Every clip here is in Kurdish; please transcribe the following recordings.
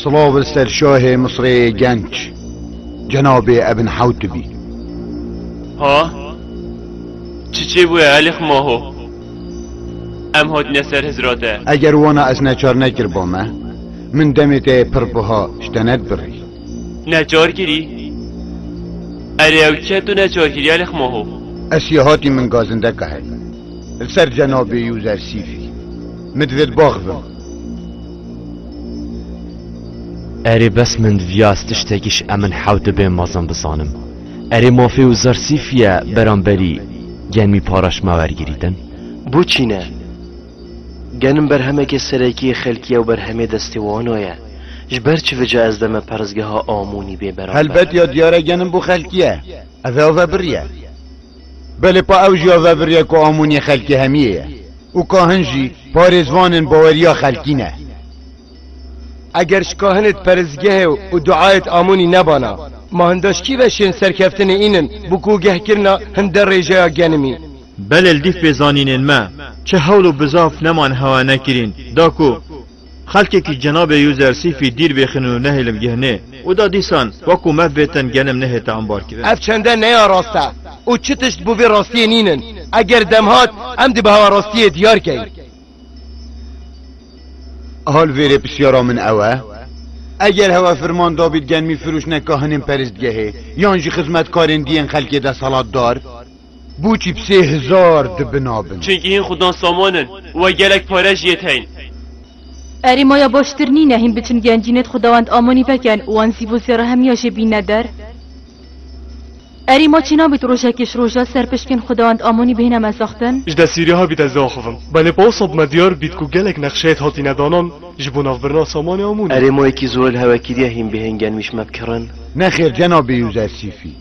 Silav li ser şahê Misrê genc cenabê Ebn Hewtibî. Ha? Çi çê bûye Elîx Maho? Em hatine ser hizra te. Eger wana ez neçar nekiribame, min demê te yê pir buha ji te nedibirî. Necargirî? Erê ew çi ye tu necargiriya li xma ho? Ez yê hatî min gazindeka heye li ser cenabê yû zersîfî. Min divê di bax bim. Erê bes min divî ez tiştekî ji emin hew dibê mezin bizanim. Erê mafê û zersîfî ye beramberî gen mî paraştma wergirîtin? Bo çîne? Genim berhemekê serekî yê xelkî ew berhemê destê wana ye. Ji ber çi vica ez deme perrezgeha Amonî bê beramber? Helbet ya diyar e genim bo xelkî ye. Ev ê ave biriye. Belê pa ew jî ave biriye ku Amonî xelkê hemiyê ye û kahin jî parêzvanên baweriya xelkî ne. Eger ji kahinêt perrezgehê û duayêt Amonî nebana, ma hindaş kî veşên serkeftinê înin bo ku geh kirina hin de rêjeya genimî? Belê li dîf bê zanînên me, çi hewl û bizaf neman hewa nekirîn, da ku xelkekî cenabê User Sîfî dîr bêxin û nehêlin gihnê û da dîsan wekû mev bêtin genim nehête ambarkirin. Ev çende neya rast e û çi tişt bo vê rastiyê nînin. Eger dem hat, em dê bi hewa rastiyê diyar kein. Hal vêrê pisyara min ew e, Eger hewa firman dabît genmî firûşne kahinên peristgehê yan jî xizmetkarên diyên xelkê desthilatdar, Boçî bi sê hizar dibin a bin. Çinkî hîn xudan saman in û we gelek pare jî yê teyîn. Erê maya baştir nîne hîn biçin gencînet xudawend amanî veken û wan zîvo zêra hemiya jê bînne der? Erê ma çê nabit rojekê ji roja ser pişkên xudawend amanî bihêne me zaxtin? Ji desîrê hebî te ziaxivim. Belê pawsa bi me diyar bît ku gelek nexşeyet hatîne danan ji bo navbirina samanê amonî. Erê ma yekî zorel hewekiriye hîn bihên genwîş me bi kirin? Nexêr cenabê Yûzesîfî.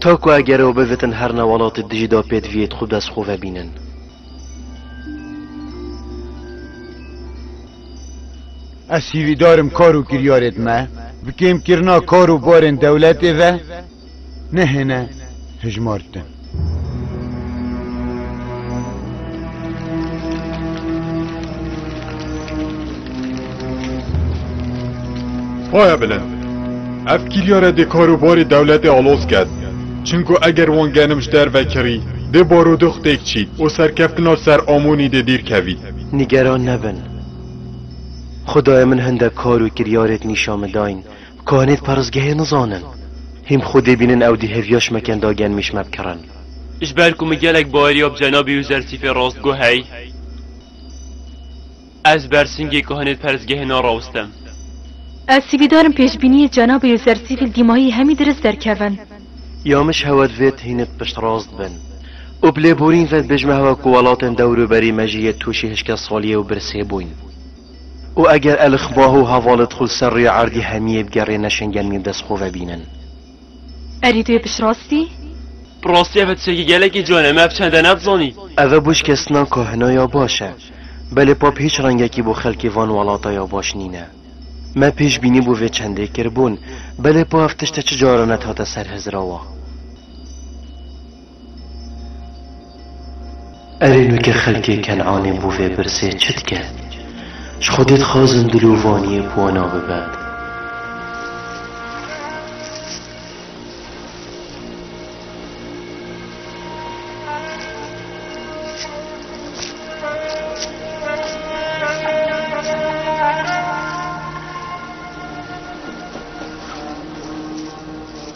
Ta ku eger ew bivitin her ne welatê dijî da pêdiviyê di xwe bi dest xwe ve bînin. Ez hîvîdar im kar û kiryarê di me bi kêmkirina kar û barên dewletê ve nehêne hijmartin. Xwaya bilin. Ev kîryare dê karûbarê dewletê aloz ket. Çimku eger wan genim ji derve kirî, dê barûdux têk çî û serkeftina ser Amonî dê dîr kevî. Nîgeran nebin. Xwedayê min hindek kar û kiryarêk nîşan min dayîn. Kohenêt perrîzgehê nizanin. Hîm xwe dê bînin ew dî hêviya şmeken da gen mîşme bikirin. Ji ber ku min gelek baeriya bi cenabê wî Zersîfê rastgo hey, ez ber singê kohenêt perrîzgehê narawustim. Ez sîvîdar im pêşbîniyê cenabê wî Zersîfî li dîmahî hemî dirist derkevin. Ya min ji hewa divê tu hînik piştrast bin û bi lêborîn ve dibêj me hewa ku welatên dewr û berî me jî yê tûşî hişkesaliyê û birsê bûn. Û eger Elixbah û hevalê di xwe li ser rêya erdê hemiyê bigerê ne şengemî bi dest xwe ve bînin. Erê tu yê piştrastî? Bi rastî ev tiştekî gelekî can e, me ev çend e nedizanî. Ev e bo ji kesinan ka hino ya baş e. Belê pap hîç rengekî bo xelkê van welata ya baş nîne. Me pêşbînî bo vê çendê kiribûn, belê pa ev tişt e çi caran net hate ser hizirawa. Erê nuke xelkê Ken'anê bo vê pirsê çi dike? Ji Xwedê dixwazin dilovaniyê bi wana bibe.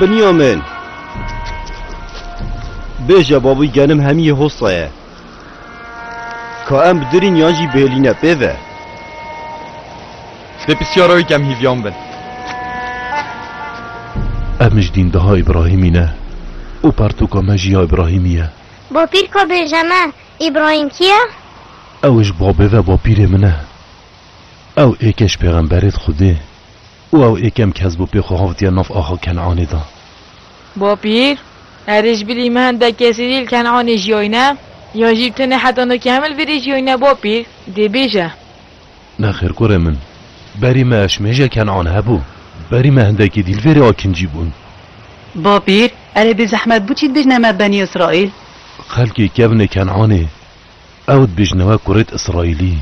Binyamin! Bêje babûy genim hemiyê hosta ye. Ka em bi dirîn yan jî bêlîne pê ve. Dê pisyara wî kem hîvyan bin. Em ji dîndeha Îbrahîmî ne û pertûka me jî ya Îbrahîmî ye. Bapîr ka bêje me Îbrahîm kî ye? Ew ji babê ve bapîrê min e. Ew ê keş pêxemberê di xwedê û ew ê kem kes bû pê xwe havtiye nav axa Ken'anê de. Bapîr, Erê ji bilî me hende kesî dî li Ken'anê jiyayne? Yan jî tenê heta no kemil vê rê jiyayne bapîr? Dê bêje. Nexêr kurê min, berî me eşmêje Ken'an hebû. Berî me hindekî dî li vê rê akincî bûn. Bapîr, Erê bêzehmet bû çî dibêjne me Benî Îsraîl? Xelkê kevnê Ken'anê. Ew dibêjin ew e kurêt îsraîlî.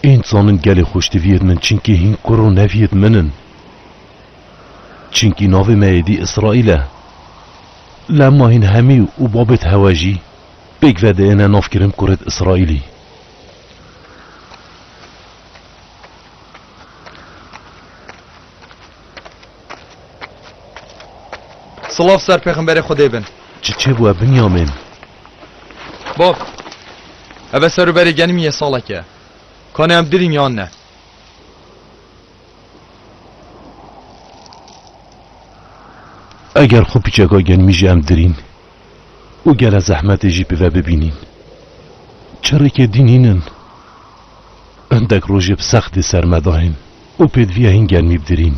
Ên dizanin gelê xweş diviyêt min çinkî hîn kur û neviyêt min in. Çinkî navê me êdî îsraîl e. Lem ma hîn hemî û babêt hewe jî pêk vediêne nav kirin kurêt îsraîlî. Silav ser pêxemberê xwedê bin. Çiçê bû e Binyamîn. Bab, eve ser û berê genimî yê saleke. Kanê em dirîn yan ne? Eger xwe piçeka genimî ji em dirîn û gele zehmetê jî bi ve bibînîn. Çirikê dîn hîn in. Hindek rojê bi sextê ser me dayên û pêdivîya hîn genimî bidirîn.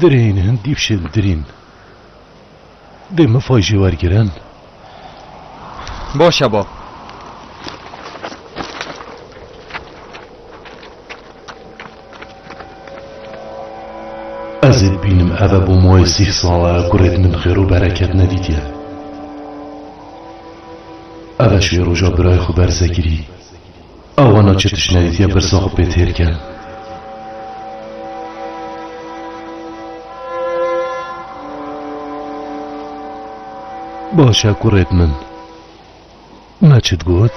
Dirêyîn hin dîpşên dirîn. Dê min fay jê wergirin. Baş e bab. Ez ê bibînim eve bû moyê sî sal e gurêd min xêr û bereket nedîtiye. Eve şê roja birayê xwe ber Zekirî. A wana çi tişnayîtî ye pirsa xwe pê têr ke. Baş e kurêt min. Me çi digot?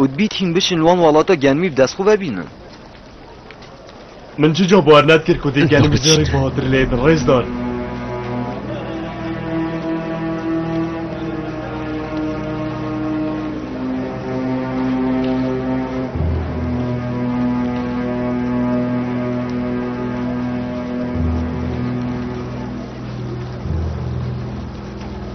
Û dibît hîn biçin li wan walata genimî bi dest xwe vebînin. Min çi ca bar nedkir ku dê genim ji rêk batir lê din rêz dan.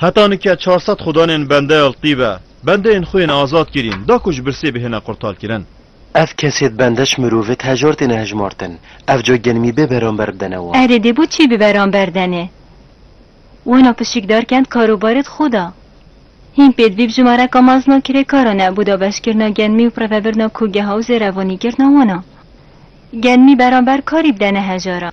Heta nike 400 xudanên bende Eltî be, bendeyên xwe yên azad kirîn, da ku ji birsê bihêne qurtarkirin. Ev kesê di bendeş mirovê di hejar têne hejmartin. Ev ca genimî bê beramber bidene wan. Erê dê bo çi bi beramber denê? Wana pişik dar kend karobarê di xwe da. Hîn pê dibî bijimareka mezna kirêkaran e bo dabeşkirina genimî û prevebirina kogeha û zêrevanîkirina wan a. Genimî beramber karî bidene hejaran.